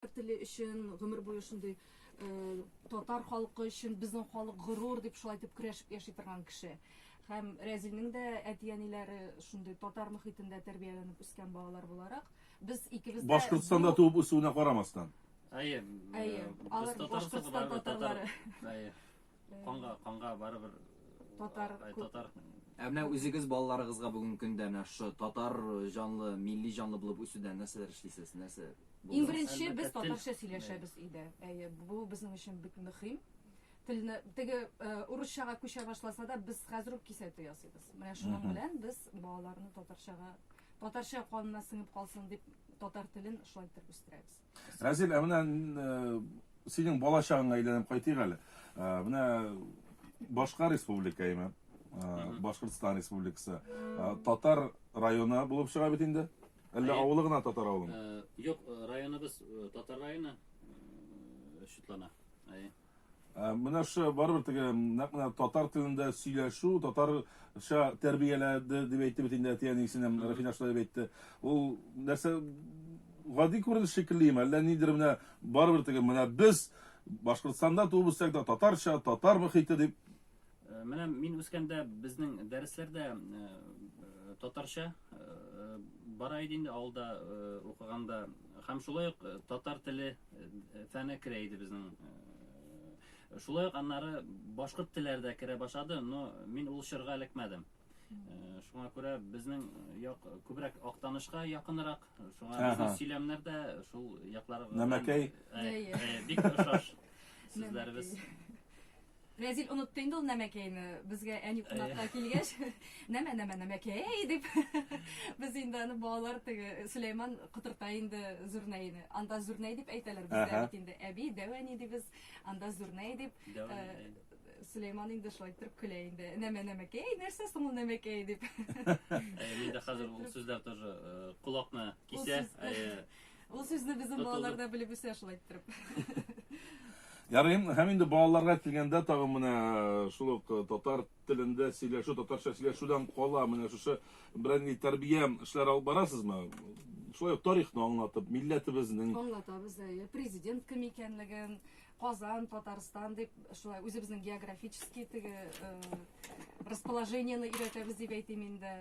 Татар теле өчен гомер буе шундый татар халкы өчен безнең халык горур дип шулай итеп көрәшеп яши торган кеше. Һәм Рәзилнең дә әти-әниләре шундый татар мөхитендә тәрбияләнеп үскән балалар буларак, без икебез дә Башкортстанда туып үсүенә карамастан. Әйе. Әйе. Алар Башкортстан татарлары. Әйе. Канга, канга барыбер татар татар Ә менә үзегез балаларыгызга бүгенге көндә менә шушы татар җанлы, милли җанлы булып үсүдә нәрсәләр эшлисез? Нәрсә? Иң беренче без татарча сөйләшәбез өйдә. Әйе, бу безнең өчен бик мөһим. Телне теге урысчага күчә башласа да, без хәзер үк кисәтү ясыйбыз. Менә шуның белән без балаларны татарчага, татарча канына сеңеп калсын дип, татар телен шулай итеп үстерәбез. Разил, ә менә синең балачагыңа әйләнеп кайтыйк әле. Менә башка республика име? Башкортстан республикасы. Татар районы булып чыга бит инде. Әллә Әйе. авылы гына татар авылы? Юк, районыбыз татар районы шутлана. Әйе. Ә, Менә шы барыбер теге нәкъ менә татар телендә сөйләшү, татарча тәрбияләде дип әйтте бит инде әти әнисенем, Рәфинә шулай дип әйтте. Ул нәрсә гади күренеш шикеллеме, әллә нидер менә барыбер теге менә без Башкортстанда туып үссәк тә татарча, татар мөхите дип Менә мин үскәндә безнең дәресләрдә татарча бара иде инде авылда укыганда һәм шулай ук татар теле фәне керә иде безнең шулай ук аннары башкорт телләре дә керә башлады но мин ул чорга эләкмәдем шуңа күрә безнең як күбрәк актанышка якынрак шуңа безнең сөйләмнәр дә шул якларга нәмәкәй бик охшаш сүзләребез Рәзил онытты инде ул нәмәкәйне. Безгә әни кунакка э. килгәч, нәмә нәмә нәмәкәй дип без инде аны балалар теге Сөләйман котырта инде Зурнәйне. Анда Зурнәй дип әйтәләр бездә бит инде. Әби дәвәни дибез, анда Зурнәй дип. Э, Сөләйман инде шулай торып көлә инде. Нәмә нәмәкәй, нәрсә соң ул нәмәкәй дип. Э, Мин дә хәзер ул сүзләр тоже колакны кисә. Ул сүзне безнең Тотылды. балалар да белеп үсә шулай иттереп. Ярый, һәм инде балаларга килгәндә тагын менә э, шул ук э, татар телендә сөйләшү, татарча сөйләшүдән кала, менә шушы берәр нинди тәрбия эшләр алып барасызмы? Шулай ук тарихны аңлатып, милләтебезнең Аңлатабыз, әйе. Президент кем икәнлеген, Казан, Татарстан дип, шулай үзебезнең географический теге э, расположениены өйрәтәбез дип әйтим инде.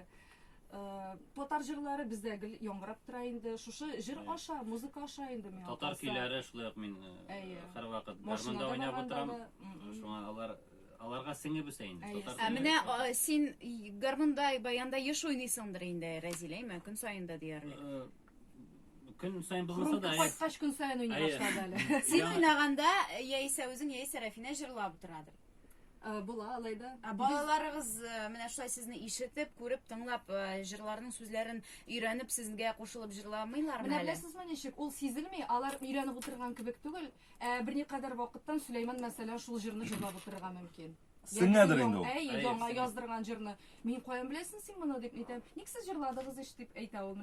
Э, татар җырлары бездә гел яңгырап тора инде. Шушы җыр аша, музыка аша инде миңа. Татар көйләре шулай ук мин э, һәрвакыт гармунда уйнап утырам. Шуңа алар аларга сеңеп үсә инде. Ә менә син гармунда, баянда еш уйныйсыңдыр инде, Рәзилә, әйме, көн саен да диярлек. Э, көн саен булмаса да. Кайткач көн саен уйный башлады әле. Син уйнаганда яисә үзең, яисә Рафина җырлап утырадыр. Э, була алай да ә балаларыгыз э, менә шулай сезне ишетеп күреп тыңлап э, җырларның сүзләрен өйрәнеп сезгә кушылып җырламыйлармы менә беләсезме ничек ул сизелми алар өйрәнеп утырган кебек түгел ә берникадәр вакыттан сөләйман мәсәлән шул җырны җырлап утырырга мөмкин сеңәдер инде ул әй яңа яздырган җырны мин каян беләсең син моны дип әйтәм ник сез җырладыгыз ич дип әйтә ул